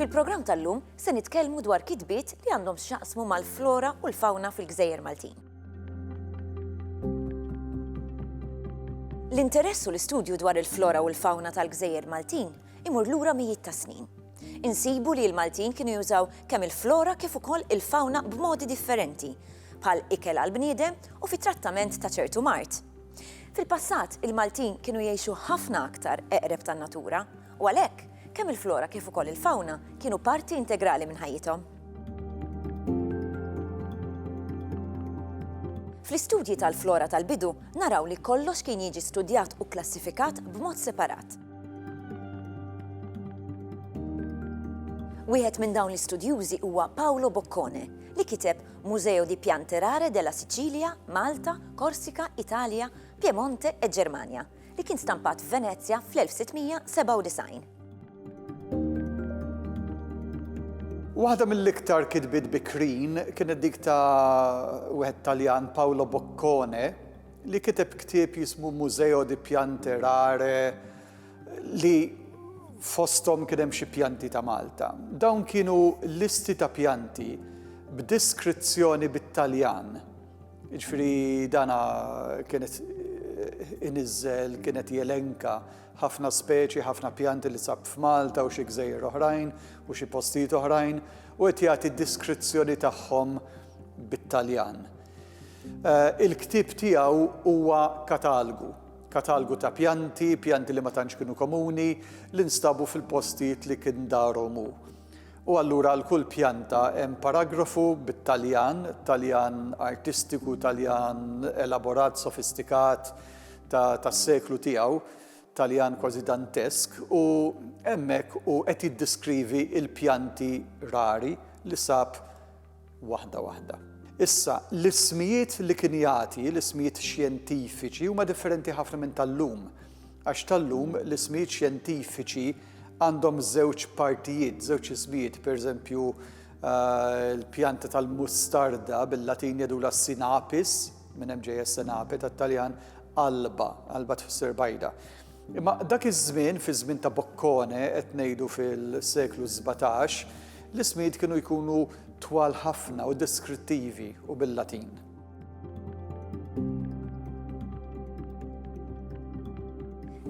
Fil-programm tal-lum se nitkellmu dwar kitbiet li għandhom x'jaqsmu mal-flora u l-fawna fil-Gżejjer Maltin. L-interess u l-istudju dwar il-flora u l-fawna tal-Gżejjer Maltin imur lura mijiet ta' snin. Insibu li l-Maltin kienu jużaw kemm il-flora kif ukoll il-fawna b'modi differenti, bħal ikel għall-bniedem u fit-trattament ta' ċertu mard. Fil-passat, il-Maltin kienu jgħixu ħafna aktar eqreb tan-natura, u għalhekk, kemm il-flora kif ukoll il-fawna kienu parti integrali minn ħajjithom. Fl-istudji tal-flora tal-bidu, naraw li kollox kien jiġi studjat u kklassifikat b'mod separat. Wieħed minn dawn l-istudjużi huwa Paolo Boccone, li kiteb Museo di Piante Rare della Sicilia, Malta, Korsika, Italja, Piemonte e Ġermanja, li kien stampat f'Venezja fl-1697. Waħda mill-iktar kitbiet bikrin kienet dik ta' wieħed Taljan Paolo Boccone, li kiteb ktieb jismu Museo di piante rare li fosthom kien hemm xi pjanti ta' Malta. Dawn kienu listi ta' pjanti b'diskrizzjoni bit-Taljan. Jiġifieri dana kien qed iniżżel, kien qed jelenka ħafna speċi, ħafna pjanti li sab f'Malta u xi gżejjer oħrajn u xi postijiet oħrajn u qed jagħti diskrizzjoni tagħhom bit-Taljan. Il-ktieb tiegħu huwa katalgu. Katalgu ta' pjanti, pjanti li ma tantx kienu komuni, li nstabu fil-postijiet li kien darhom hu. U allura għal kull pjanta hemm paragrafu bit-Taljan, Taljan artistiku, Taljan elaborat, sofistikat ta' tas-seklu tiegħu, Taljan kważi dantesk, u hemmhekk hu qed jiddiskrivi l-pjanti rari li sab waħda waħda. Issa, l-ismijiet li kien jagħti, l-ismijiet xjentifiċi, huma differenti ħafna minn tal-lum, għax tal-lum l-ismijiet xjentifiċi għandhom żewġ partijiet, żewġ ismijiet, pereżempju eh, l-pjanta tal-mustarda bil-Latin jadula sinapis, minn hemm ġejja sinape tat-Taljan, alba, alba tfisser bajda. Imma dak iż-żmien, fiż-żmien ta' Boccone, qed ngħidu fil-seklu sbatax, l-ismijiet kienu jkunu twal ħafna u deskrittivi u bil-Latin.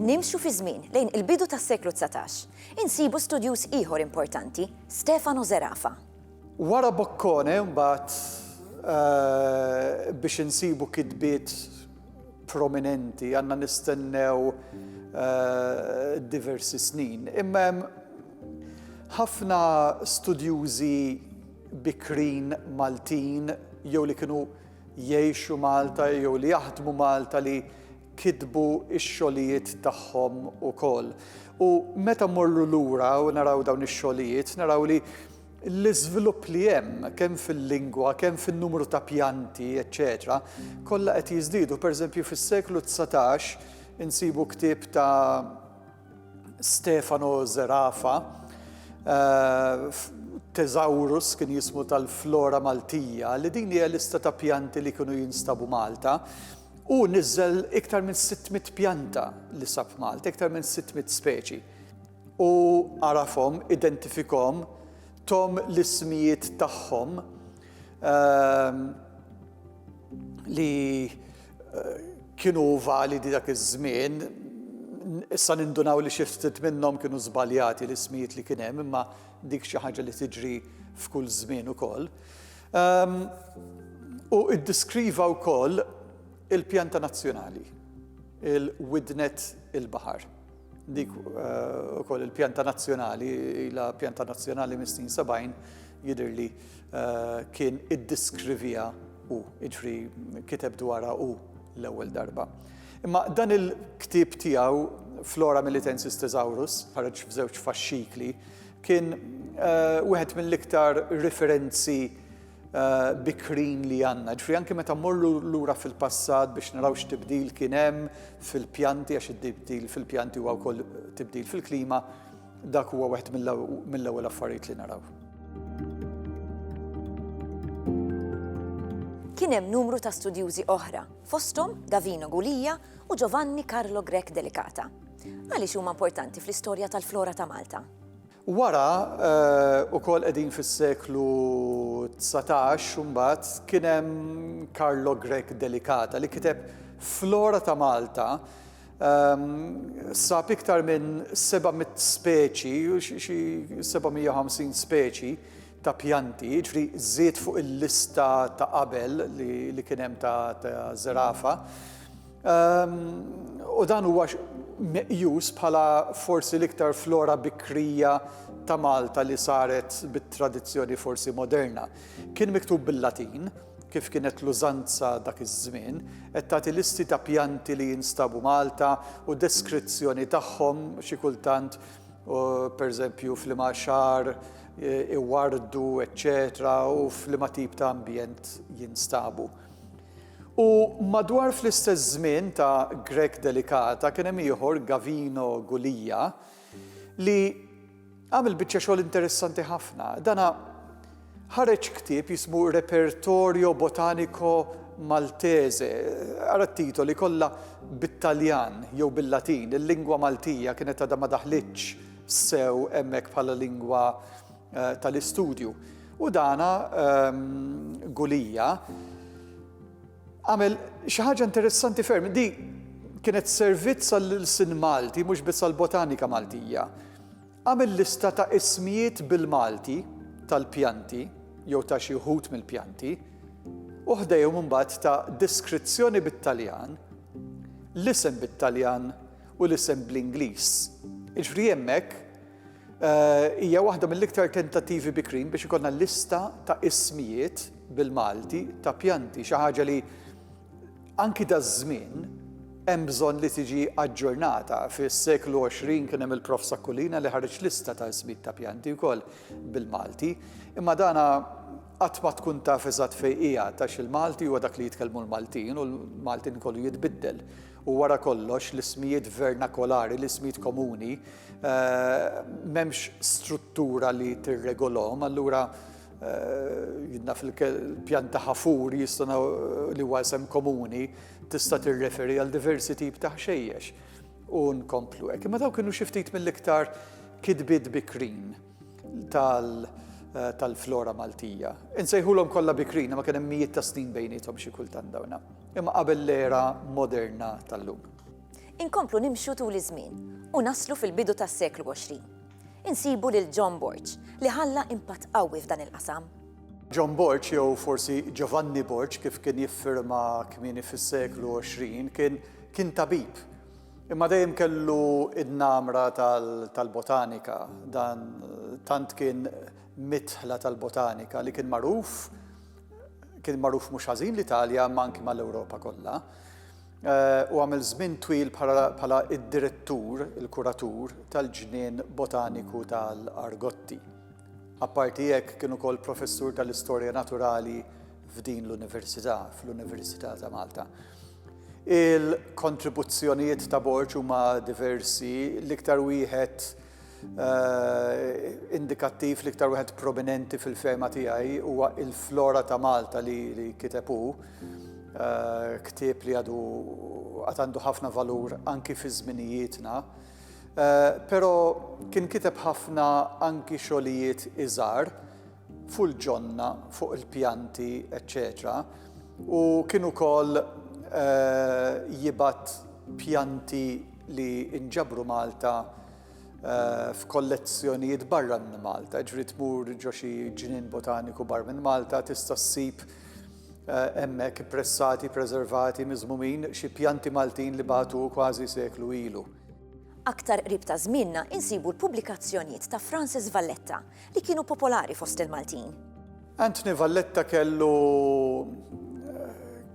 Nimxu fi żmien lejn il-bidu tas-seklu 19, insibu studjuż ieħor importanti, Stefano Zerafa. Wara Boccone mbagħad biex insibu kitbiet prominenti għandna nistennew diversi snin. Imma hemm ħafna studjużi bikrin Maltin jew li kienu jgħixu Malta jew li jaħdmu Malta li kitbu x-xogħlijiet tagħhom ukoll. U meta mmorru lura u naraw dawn ix-xogħlijiet, naraw li l-iżvilupp li hemm kemm fil-lingwa, kemm fin-numru ta' pjanti, eċċetera, kollha qed jiżdiedu. Pereżempju fis-seklu dsatax insibu ktieb ta' Stefano Zerafa, Thesaurus kien jismu tal-flora Maltija, li din hija lista ta' pjanti li kienu jinstabu Malta. Hu niżżel iktar minn 600 pjanta li sab f'Malta, iktar minn 600 speċi. U għarafhom, identifikhom, tom l-ismijiet tagħhom ehm, li eh, kienu validi dak iż-żmien, issa nindunaw li xi ftit minnhom kienu żbaljati l-ismijiet li kien hemm, imma dik xi ħaġa li tiġri f'kull żmien ukoll. Hu ddeskriva wkoll il-pjanta nazzjonali, il-widnet il-baħar. Dik ukoll il-pjanta nazzjonali, ilha pjanta nazzjonali mis-snin 70, jidhirli kien iddeskriviha hu, jiġifieri kiteb dwarha hu l-ewwel darba. Imma dan il-ktieb tiegħu Flora Melitensis Thesaurus, ħareġ f'żewġ faxxikli, Kien wieħed mill-iktar referenzi bikrin li għandna. Ġifieri anke meta mmorru lura fil-passat biex naraw x'tibdil kien hemm fil-pjanti għax it-tibdil fil-pjanti huwa wkoll tibdil fil-klima, dak huwa wieħed mill-ewwel affarijiet li naraw. Kien hemm numru ta' studjużi oħra, fosthom Davino Gulia u Giovanni Carlo Grech Delicata. Għaliex huma importanti fl-istorja tal-flora ta' Malta? Wara, eh, u kol edin fis-seklu 19, mbagħad kien hemm Karlo Grek Delikata li kiteb Flora ta' Malta ehm, sab iktar minn 700 speċi, xi 750 speċi ta' pjanti, ġifri żied fuq il-lista ta' qabel li kien hemm ta' zerafa. u dan huwa meqjus bħala forsi l-iktar flora bikrija ta' Malta li saret bit-tradizzjoni forsi moderna. Kien miktub bil-Latin, kif kienet l-użanza dak iż-żmien, qed tagħti listi ta' pjanti li jinstabu Malta u deskrizzjoni tagħhom xi kultant pereżempju f'liema xahar iwardu, eċċetera, u f'liema tip ta' ambjent jinstabu. U madwar fl-istess żmien ta' Grech Delicata kien hemm ieħor Gavino Gulia li għamel biċċa xogħol interessanti ħafna. Dana ħareġ ktieb jismu Repertorio Botanico Maltese, ara t-titoli kollha bit-Taljan jew bil-Latin, il-lingwa Maltija kienet għadha ma daħlitx sew hemmhekk bħala lingwa tal-istudju. U dana Gulija għamel xi ħaġa interessanti ferm. Di kienet servizz għall-sin Malti, mhux biss għall-botanika Maltija. Għamel lista ta' ismijiet bil-Malti tal-pjanti jew ta' xi wħud mill-pjanti, u ħdejhom imbagħad ta' deskrizzjoni bit-Taljan, l-isem bit-Taljan u l-isem bl-Ingliż. Jiġri hemmhekk Hija waħda mill-iktar tentattivi bikrin biex ikollna lista ta' ismijiet bil-Malti ta' pjanti, xi ħaġa li anki daż-żmien hemm bżonn li tiġi aġġornata. Fis-seklu 20 kien hemm il-Prof Sakkulina li ħareġ lista ta' ismijiet ta' pjanti wkoll bil-Malti, imma dana qatt ma tkun taf eżatt fejn qiegħed għax il-Malti huwa dak li jitkellmu l-Maltin u l-Maltin kollu jitbiddel. u wara kollox l-ismijiet vernakolari, l-ismijiet komuni, m'hemmx struttura li tirregolhom, allura jidna fil-pjanta ħafur jistgħu li huwa isem komuni tista' tirreferi għal diversi tip ta' ħxejjex u nkomplu hekk. Imma dawn kienu xi ftit mill-iktar kitbiet bikrin. tal-flora Maltija. Insejħulhom kollha bikrin imma kien hemm mijiet ta' snin bejniethom xi kultant dawn, imma qabel l-era moderna tal-lum. Inkomplu nimxu tul iż-żmien u naslu fil-bidu tas-seklu 20. Insibu lil John Borg li ħalla impatt qawwi f'dan il-qasam. John Borg jew forsi Giovanni Borg kif kien jiffirma kmieni fis-seklu 20 kien kien tabib. Imma dejjem kellu id-namra tal-botanika, dan tant kien midħla tal-botanika li kien magħruf, kien magħruf mhux ħażin l-Italja imma anki mal-Ewropa kollha. U għamel żmien twil bħala id-direttur, il-kuratur tal-ġnien botaniku tal-Argotti. Apparti hekk kien ukoll professur tal-Istorja Naturali f'din l-Università, fl-Università ta' Malta. Il-kontribuzzjonijiet ta' borġ huma diversi, l-iktar wieħed indikattiv, l-iktar wieħed prominenti fil-fehma tiegħi huwa Il-Flora ta' Malta li kiteb hu, ktieb li għadu għad għandu ħafna valur anki fi żminijietna. Però kien kiteb ħafna anki xogħlijiet iżgħar, fuq il-ġonna, fuq il-pjanti, eċċetera U kien ukoll jibgħat pjanti li nġabru Malta f'kollezzjonijiet barra minn Malta, jiġifieri tmur ġo xi ġnien botaniku barra minn Malta tista' ssib hemmhekk ippressati, preservati, miżmumin xi pjanti Maltin li bagħtu kważi seklu ilu. Aktar qrib ta' żmienna insibu l-pubblikazzjonijiet ta' Francis Valletta, li kienu popolari fost il-Maltin. Anthony Valletta kellu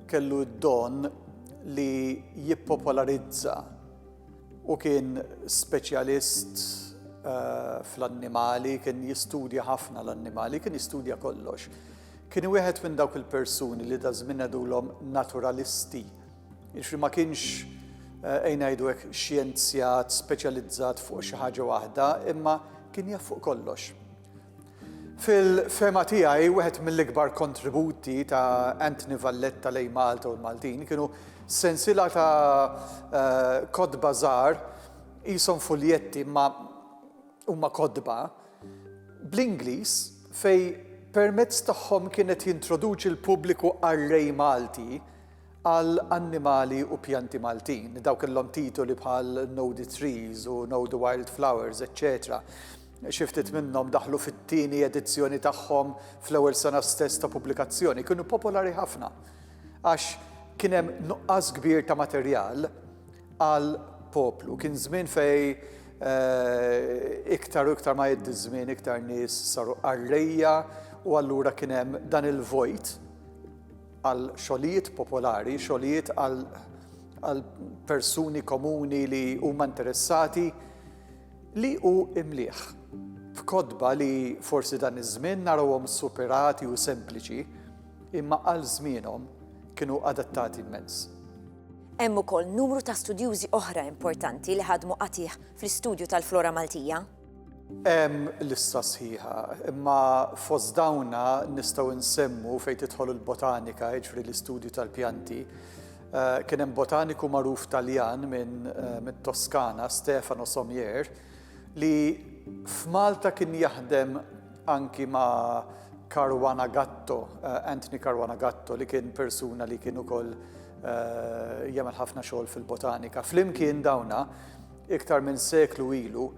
kellu d-don li jippopolarizza u kien speċjalist eh, fl-annimali, kien jistudja ħafna l-annimali, kien jistudja kollox. Kien wieħed minn dawk il-persuni li da żmien għedulhom naturalisti Jiġifieri ma kienx, ejn ngħidu hekk, xjenzjat speċjalizzat fuq xi ħaġa waħda, imma kien jaf fuq kollox. Fil-fehma tiegħi wieħed mill-ikbar kontributi ta' Anthony Valletta lejn Malta u l-Maltin kienu sensiela ta' kotba żgħar qishom fuljetti imma huma kotba bl-Ingliż fejn permezz tagħhom kien qed jintroduċi l-pubbliku qarrej Malti għal annimali u pjanti Maltin, dawk kellhom titoli bħal Know the Trees u Know the Wild Flowers, eċċetera Xi ftit minnhom daħlu fit-tieni edizzjoni tagħhom fl-ewwel sena stess ta' pubblikazzjoni. Kienu popolari ħafna għax kien hemm nuqqas kbir ta' materjal għal poplu. Kien żmien fej eh, iktar u iktar ma jeddi żmien iktar nies saru qarrejja u allura kien hemm dan il-vojt għal xogħlijiet popolari, xogħlijiet għal persuni komuni li huma interessati, li hu imlieħ b'kotba li forsi dan iż-żmien narawhom superati u sempliċi, imma għal żmienhom kienu adattati immens. Hemm ukoll numru ta' studjużi oħra importanti li ħadmu qatigħ fl-istudju tal-flora Maltija. Hemm lista sħiħa, imma fost dawna nistgħu nsemmu fejn tidħol il-botanika, jiġri l-istudju tal-pjanti. Eh, kien hemm botaniku magħruf Taljan minn eh, Toskana, Stefano Sommier, li f'Malta kien jaħdem anki ma' Caruana Gatto, eh, Anthony Caruana Gatto, li kien persuna li kien ukoll jagħmel ħafna xogħol fil-botanika. Flimkien dawna iktar minn seklu ilu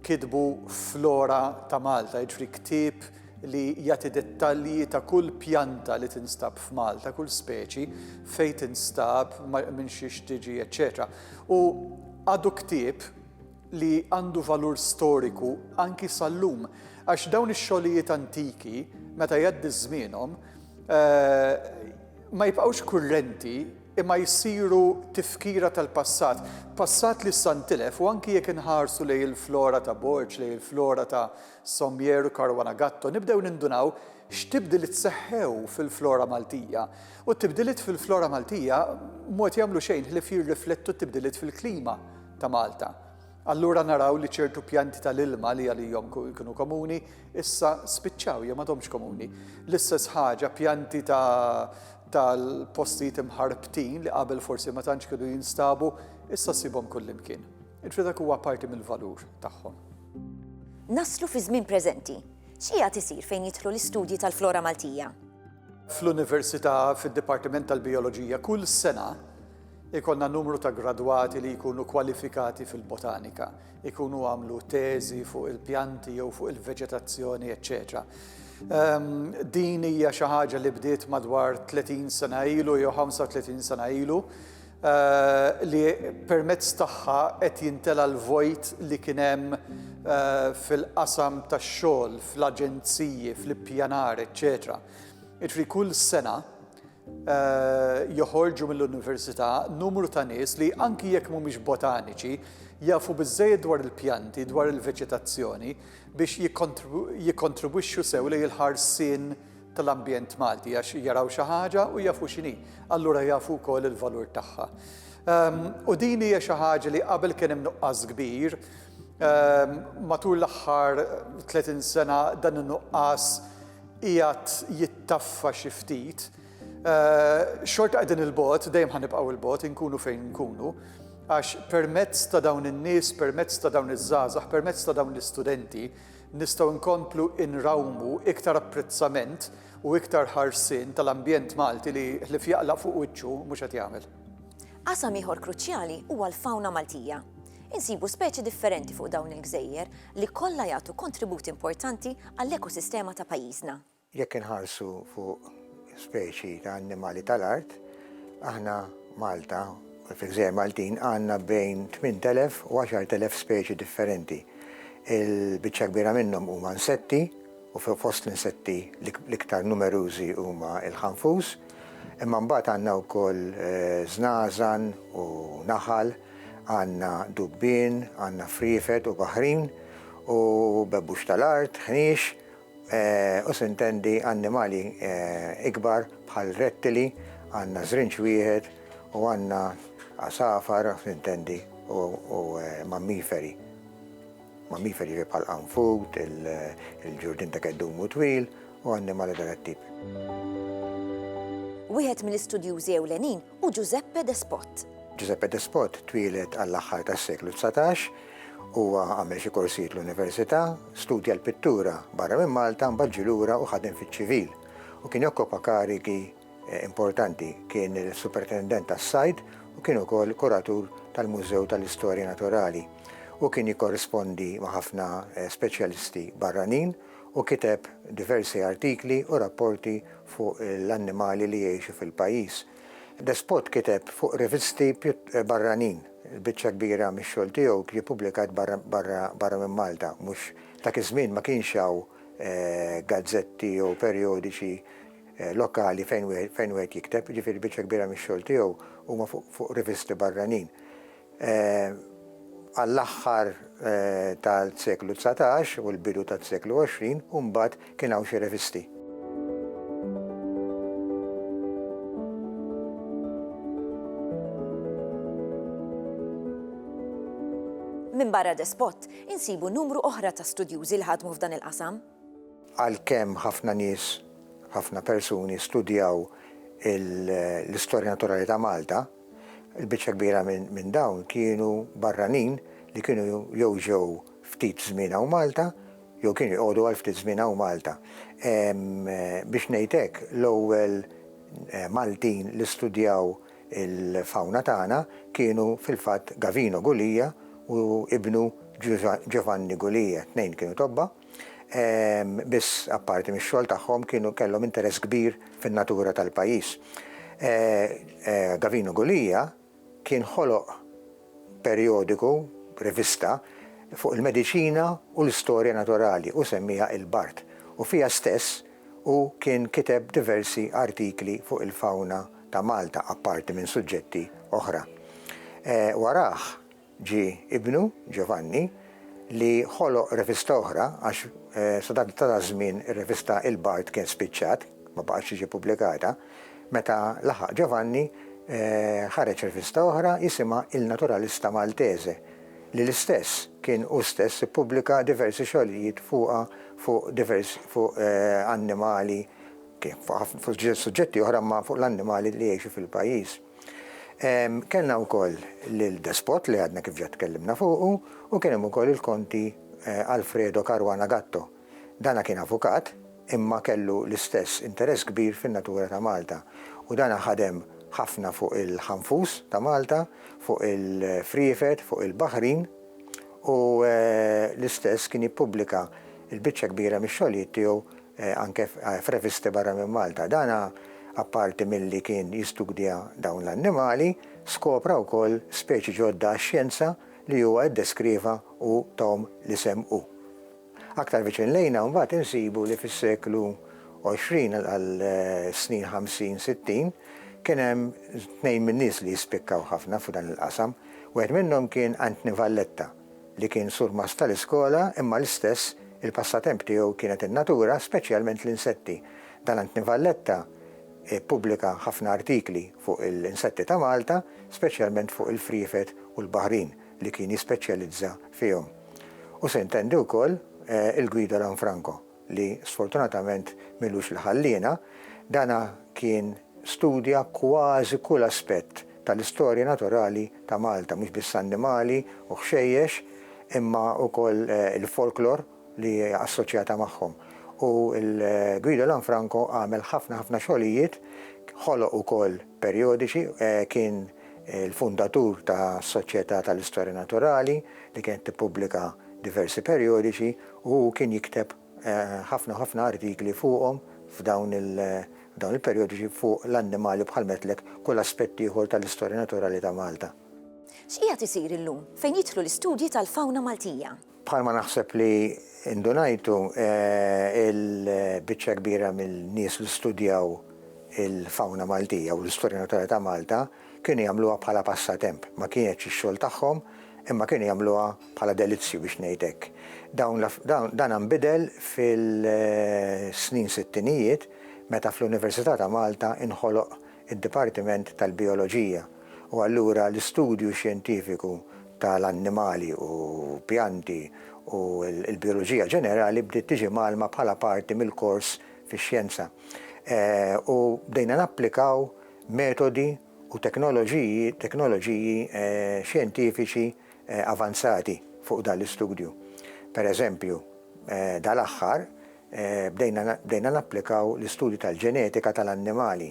kitbu flora ta' Malta, jiġri ktieb li jagħti dettalji ta' kull pjanta li tinstab f'Malta, kull speċi, fejn tinstab, minn xiex tiġi, eċċetera. U għadu ktieb li għandu valur storiku anki sal-lum, għax dawn ix-xogħlijiet antiki, meta jgħaddi żmienhom, eh, ma jibqgħux kurrenti imma jsiru tifkira tal-passat, passat li issa ntilef u anki jekk inħarsu lejn il-flora ta' Borg, lejn il-flora ta' Sommier u Caruana Gatto nibdew nindunaw x'tibdiliet seħħew fil-flora Maltija. U t-tibdiliet fil-flora Maltija mod jagħmlu xejn ħlief jirriflettu t-tibdiliet fil-klima ta' Malta. Allura naraw li ċertu pjanti tal-ilma li għalihom kienu komuni issa spiċċaw jew m'għadhomx komuni. L-istess ħaġa pjanti ta' tal-postijiet imħarbtin li qabel forsi ma tantx kienu jinstabu, issa ssibhom kullimkien. Il-fidek huwa parti mill-valur tagħhom. Naslu fiż-żmien preżenti. X'qiegħed isir fejn jidħlu l-istudji tal-flora Maltija? Fl-Università, fid-Dipartiment tal-Bijoloġija, kull sena jkollna numru ta' gradwati li jkunu kwalifikati fil-botanika. ikunu għamlu teżi fuq il-pjanti jew fuq il-veġetazzjoni, eċċetera. Din hija xi ħaġa li bdiet madwar 30 sena ilu jew 35 sena ilu li permezz tagħha qed jintela l-vojt li kien hemm fil-qasam tax-xogħol, fl-aġenziji, fl-ippjanar, eċċetera. Jiġifieri kull sena joħorġu mill-università numru ta' nies li anki jekk mhumiex botaniċi jafu biżżejjed dwar il-pjanti, dwar il-veġetazzjoni biex jikkontribwixxu sew lejn il-ħarsien tal-ambjent Malti għax jaraw xi ħaġa u jafu x'inhi, allura jafu wkoll il-valur tagħha. U din hija xi ħaġa li qabel kien hemm nuqqas kbir Matul l-aħħar 30 sena dan in-nuqqas qiegħed jittaffa xi ftit. Xorta qegħdin 'il bogħod, dejjem ħa nibqgħu 'il bogħod, inkunu fejn inkunu, għax permezz ta' dawn in-nies, permezz ta' dawn iż-żgħażagħ, permezz ta' dawn l-istudenti nistgħu nkomplu nrawmu iktar apprezzament u iktar ħarsien tal-ambjent Malti li ħlief jaqla' fuq wiċċu mhux qed jagħmel. Qasam ieħor kruċjali huwa l-fawna Maltija. Insibu speċi differenti fuq dawn il-gżejjer li kollha jagħtu kontribut importanti għall-ekosistema ta' pajjiżna. Jekk inħarsu fuq speċi ta' annimali tal-art, aħna Malta, fil-Gżejjer Maltin, għandna bejn 8,000 u 10,000 speċi differenti. Il-biċċa kbira minnhom huma nsetti u fost l-insetti l-iktar numerużi huma l-ħanfus, Imma mbagħad għandna wkoll żnażan u naħal, għandna dubbien, għandna friefet u baħrin, u bebbux tal-art, ħniex, u s'intendi annimali ikbar bħal rettili, għandna żrinġ wieħed, u għandna għasafar, s'intendi, u mammiferi. mammiferi ġej bħal qanfut, il-ġurdien ta' keddum u twil, u annimali ta' dat-tip. Wieħed mill-istudjużi ewlenin hu Giuseppe Despot. Giuseppe Despot twieled għall-aħħar tas-seklu dsatax, huwa għamel xi korsijiet l-università, studja l-pittura barra minn Malta, mbagħad ġie lura u ħadem fiċ-ċivil, u kien jokkopa karigi importanti kien il-Superintendent tas-Sajd u kien ukoll kuratur tal-Mużew tal-Istorja Naturali u kien jikkorrispondi ma' ħafna speċjalisti barranin u kiteb diversi artikli u rapporti fuq l-annimali li jgħixu fil-pajjiż. Despot kiteb fuq rivisti barranin, il-biċċa kbira mix-xogħol tiegħu ġie ppubblikat barra minn Malta, mhux dak iż-żmien ma kienx hawn gazzetti jew perjodiċi lokali fejn fejn wieħed jikteb, jiġifieri biċċa kbira mix-xogħol tiegħu huma fuq fuq rivisti barranin. Għall-aħħar tal-seklu dsatax u l-bidu tas-seklu għoxrin u mbagħad kien hawn xi revisti. Minbarra Despot, insibu numru oħra ta' studjużi li ħadmu f'dan il-qasam. Għalkemm ħafna nies, ħafna persuni studjaw l-istorja naturali ta' Malta, il-biċċa kbira minn dawn kienu barranin li kienu jew ġew ftit żmien hawn Malta jew kienu jqogħdu għal ftit żmien hawn Malta. Biex ngħid hekk, l-ewwel Maltin li studjaw il-fawna tagħna kienu fil-fatt Gavino Gulia u ibnu Giovanni Gulia, t-tnejn kienu tobba, Biss, apparti mix-xogħol tagħhom, kienu kellhom interess kbir fin-natura tal-pajjiż. Gavino Gulia kien ħoloq perjodiku, rivista, fuq il-mediċina u l-istorja naturali u semmiha Il-Bard, u fiha stess hu kien kiteb diversi artikli fuq il-fawna ta' Malta, apparti minn suġġetti oħra. Warajh, Ġie ibnu, Ġovanni, li ħoloq revista oħra għax sa dak taż-żmien ir-revista Il-Bard kien spiċċat, ma baqgħetx tiġi ppubblikata. Meta laħaq Ġovanni, ħareġ revista oħra jisimha Il Naturalista Maltese, li l-istess kien hu stess ippubblika diversi xogħlijiet fuqha fuq diversi fuq annimali, kien fuq suġġetti oħra imma fuq l-annimali li jgħixu fil-pajjiż. Kellna wkoll lil Despot li għadna kif ġa tkellimna fuqu u kien hemm ukoll il-Konti Alfredo Caruana Gatto. Dana kien avukat imma kellu l-istess interess kbir fin-natura ta' Malta u dana ħadem ħafna fuq il-ħanfus ta' Malta, fuq il-friefet, fuq il-baħrin u l-istess kien jippubblika l-biċċa kbira mix-xogħlijiet tiegħu anke f'revisti barra minn Malta. Dan, apparti milli kien jistudja dawn l-annimali, skopra wkoll speċi ġodda għax-xjenza li huwa ddeskrieva u tahom l-isem u. Aktar viċin lejna mbagħad insibu li fis-seklu għoxrin għall-snin ħamsin, sittin, kien hemm tnejn min-nies li jispikkaw ħafna f'dan il-qasam. Wieħed minnhom kien Anthony Valletta. li kien surmast tal-iskola imma l-istess il-passatemp tiegħu kienet in-natura, speċjalment l-insetti. Dalantni Valletta ppubblika ħafna artikli fuq l-insetti ta' Malta, speċjalment fuq il-friefet u l-baħrin li kien jispeċjalizza fihom. U se jntendi wkoll il-Guido Lanfranco. li sfortunatament m'ilux li ħalliena, dana kien studja kważi kull aspett tal-istorja naturali ta' Malta, mhux biss annimali u ħxejjex, imma wkoll il-folklor li hija assoċjata magħhom. U l-Guido Lanfranco għamel ħafna ħafna xogħlijiet, ħoloq ukoll, Perjodiċi, kien il-fundatur ta' Soċjetà tal-Istorja Naturali li kienet tippubblika diversi perjodiċi u hu kien jikteb ħafna ħafna artikli fuqhom f'dawn il-perjodiċi fuq l-annimali bħal m'għedtlek kull aspett ieħor tal-istorja naturali ta' Malta. X'qiegħed isir illum fejn jidħlu l-istudji tal-fawna Maltija? Bħalma naħseb li ndunajtu, il-biċċa kbira mill-nies li studjaw il-fawna Maltija u l-istorja naturali ta' Malta kienu jagħmluha bħala passatemp. Ma kienetx ix-xogħol tagħhom, imma kienu jagħmluha bħala delizzju biex ngħid hekk. Dawn dan inbidel fil-snin sittinijiet meta fl-Università ta' Malta inħoloq id-Dipartiment tal-Bijoloġija, u allura l-istudju xjentifiku ta' l-annimali u pjanti u l-bijoloġija ġenerali bdiet tiġi mgħallma bħala parti mill-kors fix-xjenza. U bdejna napplikaw metodi u teknoloġiji teknoloġiji xjentifiċi avanzati fuq dan l-istudju. Per eżempju, dal-aħħar bdejna napplikaw l-istudju tal-ġenetika tal-annimali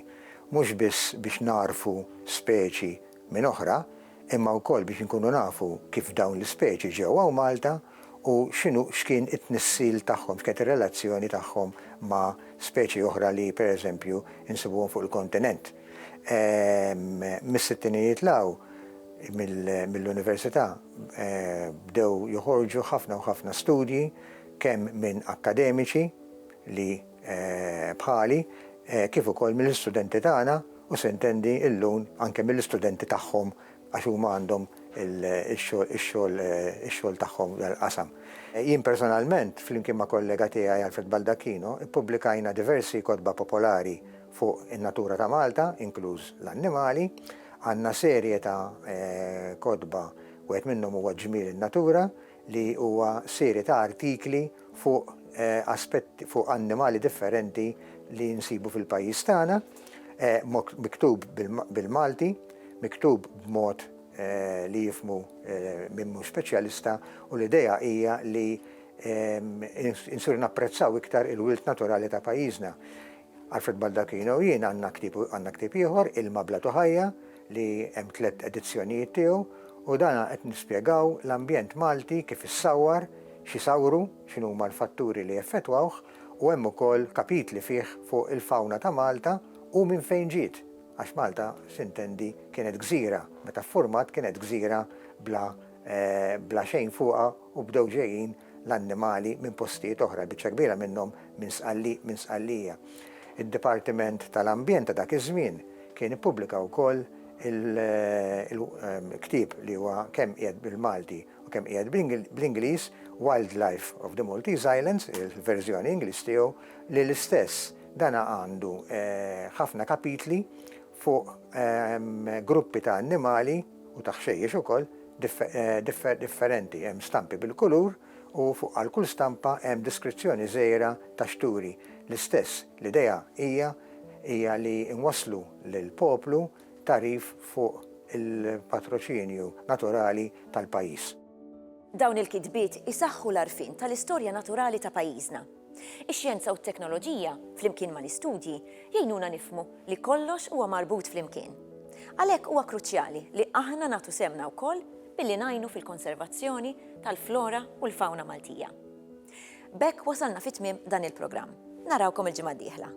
mhux biss biex nagħrfu speċi minn oħra, imma wkoll biex inkunu nafu kif dawn l-ispeċi ġew hawn Malta u x'inhu x'kien it-tnissil tagħhom, x'kienet ir-relazzjoni tagħhom ma' speċi oħra li, per eżempju, insibuhom fuq il-kontinent. Mis-sittinijiet 'l hawn, mill-università bdew joħorġu ħafna u ħafna studji, kemm minn akkademiċi li bħali, kif ukoll mill-istudenti tagħna u sintendi llum anke mill-istudenti tagħhom għax huma għandhom ix-xogħol tagħhom f'dan il-qasam. Jien personalment, flimkien ma' kollega tiegħi Alfred Baldacchino, ippubblikajna diversi kotba popolari fuq in-natura ta' Malta, inkluż l-annimali. Għandna serje ta' kotba, wieħed minnhom huwa Ġmiel in-Natura li huwa serje ta' artikli fuq aspetti, fuq annimali differenti li nsibu fil-pajjiż tagħna, miktub bil-Malti, miktub b'mod li jifhmu min mhux speċjalista u l-idea hija li nsiru napprezzaw iktar il-wirt naturali ta' pajjiżna. Alfred Baldacchino u jien għandna ktieb għandna ktieb ieħor, Ilma bla Tuħajja, li hemm tliet edizzjonijiet tiegħu u dan qed nispjegaw l-ambjent Malti kif issawwar, x'isawwru, x'inhuma l-fatturi li jeffettwawh u hemm ukoll kapitli fih fuq il-fawna ta' Malta u minn fejn ġiet, għax Malta s'intendi kienet gżira, meta ffurmat kienet gżira bla bla xejn fuqha u bdew ġejjin l-annimali minn postijiet oħra, il-biċċa kbira minnhom minn Sqallieq minn Sqallija. Id-Dipartiment tal-Ambjent ta' dak iż-żmien kien ippubblika wkoll il-ktieb li huwa kemm qiegħed bil-Malti u kemm qiegħed bl-Ingliż Wildlife of the Maltese Islands, il-verżjoni Ingliż tiegħu, li l-istess dana għandu ħafna kapitli fuq gruppi ta' annimali, u ta' ħxejjex ukoll, differenti. Hemm stampi bil-kulur u fuq għal kull stampa hemm deskrizzjoni żgħira ta' x'turi. L-istess, l-idea hija hija li nwasslu lill-poplu tagħrif fuq il-patroċinju naturali tal-pajjiż. Dawn il-kitbiet isaħħu l-għarfien tal-istorja naturali ta' pajjiżna. Ix-xjenza u t-teknoloġija, flimkien mal-istudji, jgħinuna nifhmu li kollox huwa marbut flimkien. Għalhekk huwa kruċjali li aħna nagħtu sehmna wkoll billi ngħinu fil-konservazzjoni tal-flora u l-fawna Maltija. B'hekk wasalna fi tmiem dan il-programm. Narawkom il-ġimgħa d-dieħla.